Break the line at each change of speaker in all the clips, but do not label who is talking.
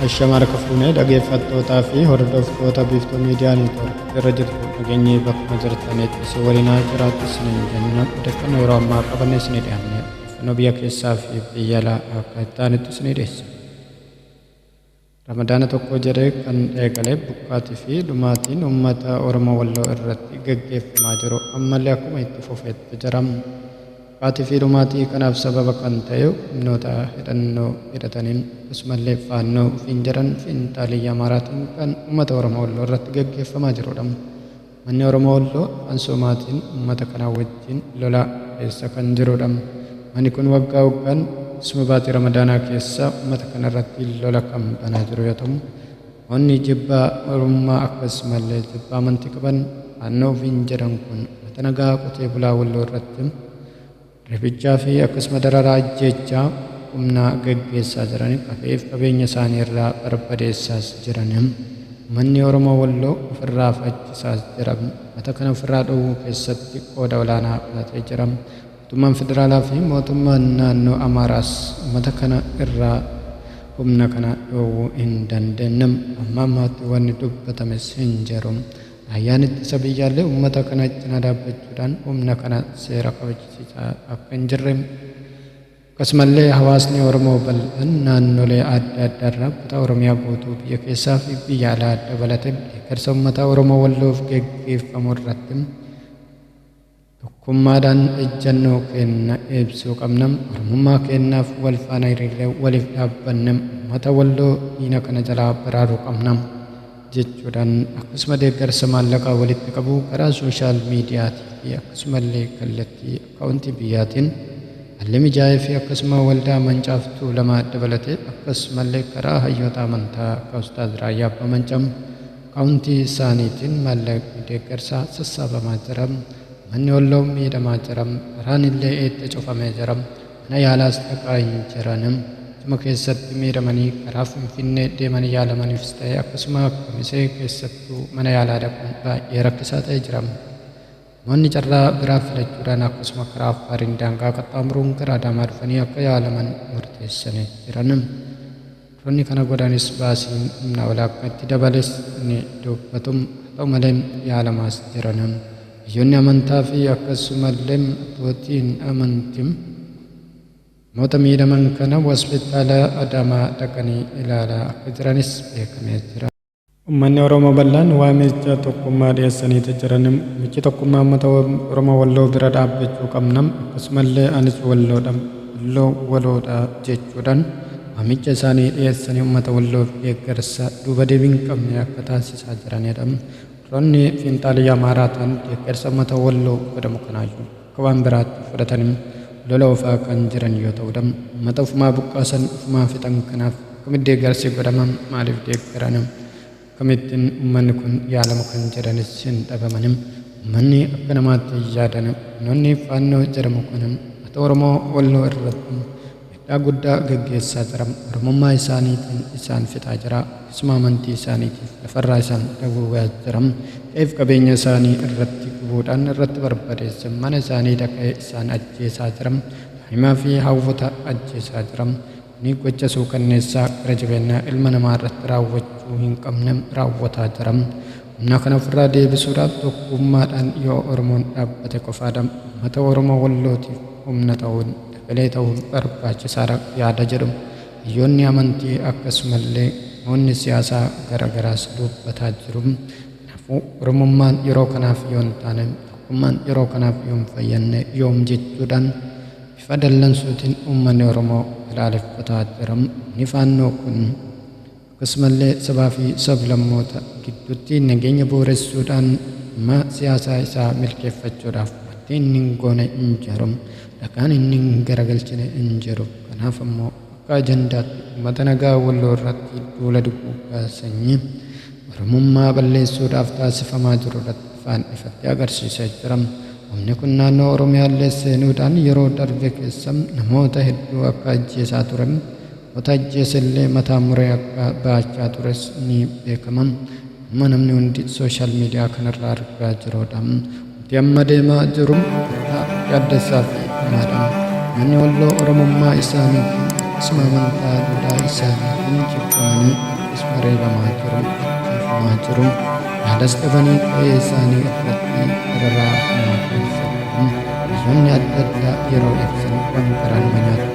Ashama harka fuunee dhageeffattootaa fi hordoftoota biiftuu miidiyaa neetwoork irra jirtu dhageenyee bakkuma jirtanitti isin waliin haa jiraatu isiniin jenna odeeffannoo yeroo ammaa qabanne isinii dhiyaanne odeeffannoo biyya keessaa fi biyya alaa akka itti aanutti isinii dhiyeessa. Ramadaana tokko jedhee kan eegale buqqaatii fi dhumaatiin uummata Oromoo Walloo irratti gaggeeffamaa jiru ammallee akkuma itti fufetti jira. Dhufaatii fi dhumaatii kanaaf sababa kan ta'e humnoota hidhannoo hidhataniin akkasumallee Faannoo ofiin jedhan fiinxaaleyyii Amaaraatiin kan uummata Oromoo Walloo irratti gaggeeffamaa jiruudha. Uummanni Oromoo Walloo afaan Soomaatiin uummata kanaa wajjin lola keessa kan jiruudha. Uummanni kun waggaa waggaan keessumaa baatii Ramadaanaa keessa uummata kana irratti lola kan banaa jiru yoo ta'u, Namoonni jibba Oromummaa akkasumallee jibba amantii qaban faannoo ofiin jedhan kun uummata nagaa qotee bulaa Walloo irratti reebichaa fi akkasuma dararaa ajjeechaa humnaa gaggeessaa jiran qafee fi qabeenya isaanii irraa barbadeessaas jiran uummanni Oromoo Walloo ofirraa fachisaas jira. Uummata kana ofirraa dhowwuu keessatti qooda olaanaa fudhatee jira. Mootummaan Federaalaa fi Mootummaan Naannoo Amaaraas ummata kana irraa humna kana dhoowwuu hin dandeenyem. Amma ammaatti wanni dubbatames hin jiru. Raayyaan Ittisa Biyyaallee ummata kana cina dhaabbachuudhaan humna kana seera kabachisiisaa akka hin jirre, akkasumallee hawaasni Oromoo bal'aan naannolee adda addaa irraa kutaa Oromiyaa guutuu biyya keessaa fi biyya alaa dabalatee deeggarsa ummata Oromoo Walloof geggeeffamu irratti Tokkummaadhaan ejjannoo keenna ibsuu qabna. Oromummaa keennaaf wal faana hiriirree waliif dhaabbanne ummata Walloo diina kana jalaa baraaruu qabna jechuudhaan akkasuma deeggarsa maallaqaa walitti qabu karaa sooshaal miidiyaatii fi akkasumallee kallattii akkaawuntii biyyaatiin haalli mijaa'eefii akkasuma waldaa Mancaaf Tuulamaa dabalatee akkasumallee karaa hayyoota amantaa akka Ustaaz Raayyaa Abbaa Mancaa Akkaawuntii isaaniitiin maallaqni deeggarsaa sassaabamaa jira. Manni Walloo miidhamaa jira. Karaan illee itti cufamee jira. Mana yaalaas dhaqaa hin jiran. Achuma keessatti miidhamanii karaa Finfinnee deemanii yaalamaniifis ta'e akkasuma Kamisee keessattuu mana yaalaa dhaquun baay'ee rakkisaa ta'ee jira. Namoonni carraa biraa filachuudhaan akkasuma karaa Affaariin daangaa qaxxaamuruun gara Adaamaa dhufanii akka yaalaman murteessanii jiran. Dubartoonni kana godhanis baasiin humna walaabkaa itti dabales ni dubbatum. Haa ta'u malee yaalamaas jirana. Hayyoonni amantaa fi akkasumallee abbootiin amanti namoota miidhaman kana Hospitaala Adaamaa dhaqanii ilaalaa akka jiranis beekamee jira. Ummanni Oromoo bal'aan waamicha tokkummaa dhiyeessaniiti jiran. Michi tokkummaa ummata Oromoo Walloo bira dhaabbachuu qabna. Akkasumallee anis Walloodha. Walloo waloodha jechuudhaan waamicha isaanii dhiyeessanii ummata Walloof deeggarsa duuba deebii hin qabne akka taasisaa jiranidha. Warroonni fiinxaaliyya Amaaraa ta'an deeggarsa ummata Walloo godhamu kanaayyuu. akka waan biraatti fudhatani lola oofaa kan jiran yoo ta'udha. Ummata ofumaa buqqaasan ofumaa fixan kanaaf akkamitti deeggarsi godhama? Maaliif deeggarana? Akkamittin ummanni kun yaalama kan jedhanis hin dhabamani. Ummanni akka namaatti hin yaadani. Humnoonni Faannoo jedhamu kun ummata Oromoo Walloo irratti Miidhaa guddaa gaggeessaa jira. Oromummaa isaaniitiin isaan fixaa jira. Isuma amantii isaaniitiif lafarraa isaan dagoogaa jira. Qe'eef qabeenya isaanii irratti gubuudhaan irratti barbadeesse. Mana isaanii dhaqee isaan ajjeesaa jira. Daa'imaa fi hawwota ajjeesaa jira. Kuni gocha suukanneessaa gara jabeenna ilma namaa irratti raawwachuu hin qabne raawwataa jira. Humna kana ofirraa deebisuudhaaf tokkuummaadhaan yoo Oromoon dhaabbate qofaadha ummata Oromoo Wallootiif humna ta'uun, efelee ta'uun barbaachisaadha yaada jedhu hayyoonni amantii akkasumallee namoonni siyaasaa gara garaas duubbataa jiru. Kanaafuu Oromummaan yeroo kanaaf yoo hin taane, tokkummaan yeroo kanaaf yoo hin fayyanne yoom jechuudhaan bifa dallansuutiin ummanni Oromoo balaaleffataa jira. Humni Faannoo kun. Akkasumallee sabaa fi sab-lammoota gidduutti nageenya bu'uressuudhaan dhimma siyaasaa isaa milkeeffachuudhaaf wanti inni hin goone hin jiru, dhakaan inni hin garagalchine hin jiru. Kanaaf ammoo akka ajandaatti ummata nagaa Walloo irratti duula duguuggaa sanyii Oromummaa balleessuudhaaf taasifamaa jiru irratti ifaan ifatti agarsiisee jira. Humni kun naannoo Oromiyaallee seenuudhaan yeroo darbe keessa namoota hedduu akka ajjeesaa ture, Wata ajjeese illee mataa muree akka bahachaa tures ni beekama. Amma namni hundi social media kanarraa argaa jiruudha. Wanti amma deemaa jiru bakkaa yaaddessaa fi hamaadha. Manni Walloo Oromummaa isaanii fi akkasuma amantaa duudhaa isaaniitiin jibbamanii akkasuma reebamaa jiru, ajjeefamaa jiru. Yaadas dhabanii qe'ee isaanii irratti dararaa hamaa keessa jiru. Biyyoonni adda addaa yeroo ibsan waan garaa nama nyaatu.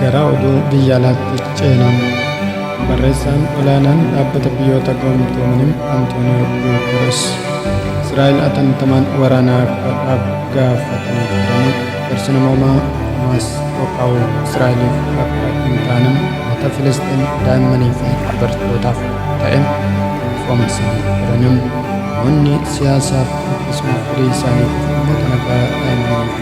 Gara oduu biyya alaatti ceena. Barreessaan olaanaan dhaabbata biyyoota gamtoomanii Antooniyoo Guuteres Israa'el atattamaan waraana akka dhaabu gaafatanii turanii garsi namoomaa Hamaas qophaa'u Israa'eliif akka hin taane mata Filisxeem daa'immanii fi dubartootaaf ta'e ifoomsanii turanii namoonni siyaasaaf akkasumas firii isaaniif uummata nagaa daa'immanii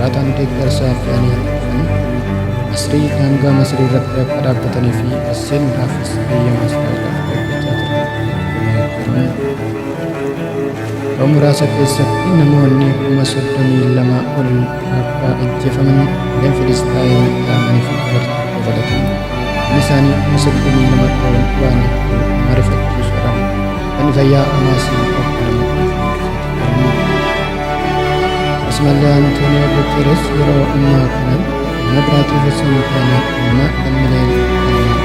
Laataan deeggarsa fe'anii dhufanii Masrii daangaa Masrii irratti akka dhaabbatanii fi as seenuudhaafis eeyyama Israa'el akka eeggachaa jiran himanii jiran. Yeroo muraasa keessatti namoonni kuma soddomii lama ol akka ajjeefaman gareen Filisxaayim dhaamanii fi dubartii dabalatan inni isaanii kuma soddomii lama ol waan hedduu nama rifachiisuudhaan kan fayyaa Hamaasii akka nama Asmallee Antooniyoo Guteres yeroo ammaa kana Mabiraatii Hussein Faana amma lammileen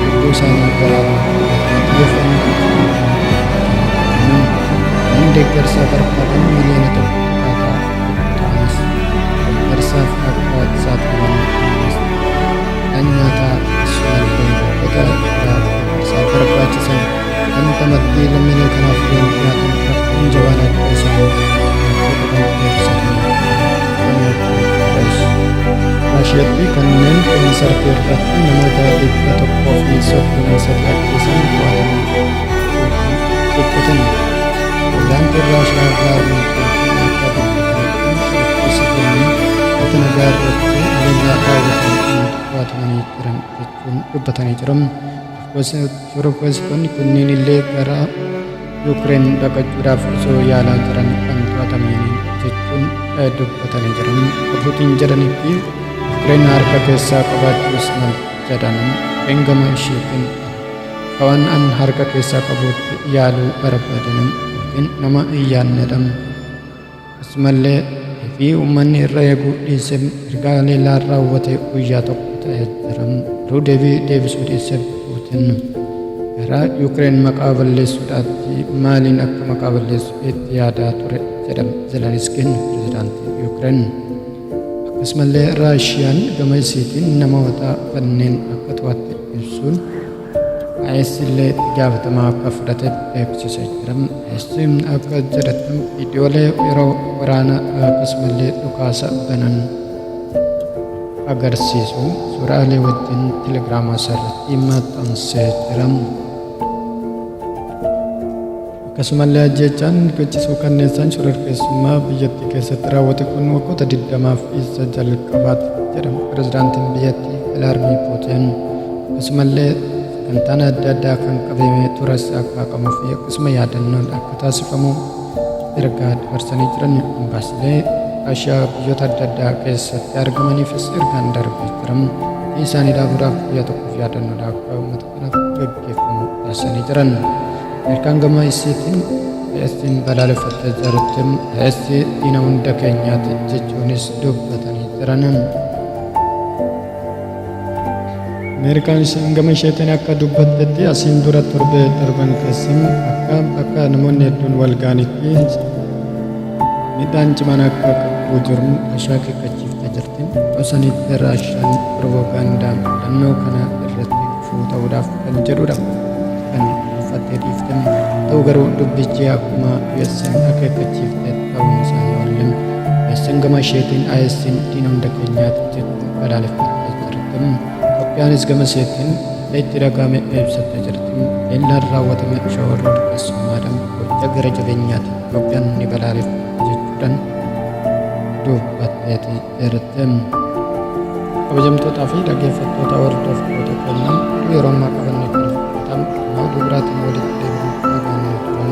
lubbuu isaanii baraaruuf xiyyeeffannoo guddaa kennuun kanneen deeggarsaa barbaadan miliyoona tokko dhaataa ta'anis deeggarsaaf akka saaxilaman kan nyaataa Asmallee goda irraa deeggarsaa barbaachisan Kan tamattii lammiileen kanaaf waan dhiyaatan rakkoon jabaan adda isaanii Raashiyatti kanneen koonsartii irratti namoota dhibba tokkoo fi soddomii sadii ajjeesan to'ataman dhiphatanii Pirezidaantiin Raashiyaa Vladimir Putin akka dubbatanitti shororkeessitoonni wata nagaa irratti haleellaa raawwatan to'atamanii jiran jechuun dubbatanii jiru. Shororkeessitoonni kunniin illee gara Yuukireen baqachuudhaaf osoo yaalaa jiran kan to'atameen jechuun dubbatanii jiran. Abbootiin jedhanitti Yuukireen harka keessaa qabaachuus mal jedhan eengama isheetiin akka waan an harka keessaa qabuutti yaaluu barbaadan yookiin nama hin yaadnedha. Akkasumallee fi uummanni irra eeguu dhiisee erga haleellaan raawwatee guyyaa tokko ta'ee jira. Garuu deebii deebisuu dhiisee Puutin gara Yuukireen maqaa balleessuudhaatti maaliin akka maqaa balleessu itti yaadaa ture jedha Zeleniskiin pirezidaantii Yuukireen. Akkasumallee Raashiyaan gama isiitiin namoota kanneen akka to'atte ibsuun IS illee itti gaafatamaa akka fudhate beeksisee jira. IS akka jedhetti viidiyoolee yeroo waraana akkasumallee dhukaasa banan agarsiisu suuraalee wajjin telegiraama isaarratti maxxansee jira. Akkasumallee ajjeechaan gochi suukanneessaan shororkeessummaa biyyattii keessatti raawwate kun waggoota 20f isa jalqabaati jedhan pirezidaantiin biyyattii Vilaadmiir Puutiin. Akkasumallee sagantaan adda addaa kan qabamee tures akka haqamuu fi akkasuma yaadannoon akka taasifamu ergaa dabarsanii jiran ambaasilee Raashiyaa biyyoota adda addaa keessatti argamaniifis ergaan darbee jira. Ofii isaanii dhaabuudhaaf guyyaa tokkoof yaadannoodha akka uummata kanaaf gaggeeffamu taasisanii jiran. Ameerikaan gama isiitiin AStiin balaaleffatte jirti. AS diina hunda keenyaati jechuunis dubbatanii jiran. Ameerikaan ishiin gama isheetiin akka dubbattetti asiin dura torbee darban keessa akka bakka namoonni hedduun wal ga'anitti Midhaan cimaan akka qaqqabu jiru ashaa qiqqachiifta jirti. Tosanitti Raashaan piroopaagaandaa filannoo kana irratti gufuu ta'uudhaaf kan jedhudha. Kan dhuunfattee dhiifte. Ta'u garuu dubbichi akkuma US'n akeekkachiifte ta'uun isaa hin oolle. US'n gama isheetiin IS'n diina hunda keenyaati jechuun balaaleffattee jirti. Itoophiyaanis gama isheetiin itti dhaga'ame ibsattee jirti. Eellaan raawwatame shawaa dhorkessummaadhaan gocha gara jabeenyaati. Itoophiyaan ni balaaleffatti jechuudhaan dubbatteeti jirti. Kabajamtootaa fi dhaggeeffattoota hordoftoota keenyaa oduu yeroo ammaa qabannee kan fudhatan oduu biraatiin walitti deebi'uuf nagaan turan.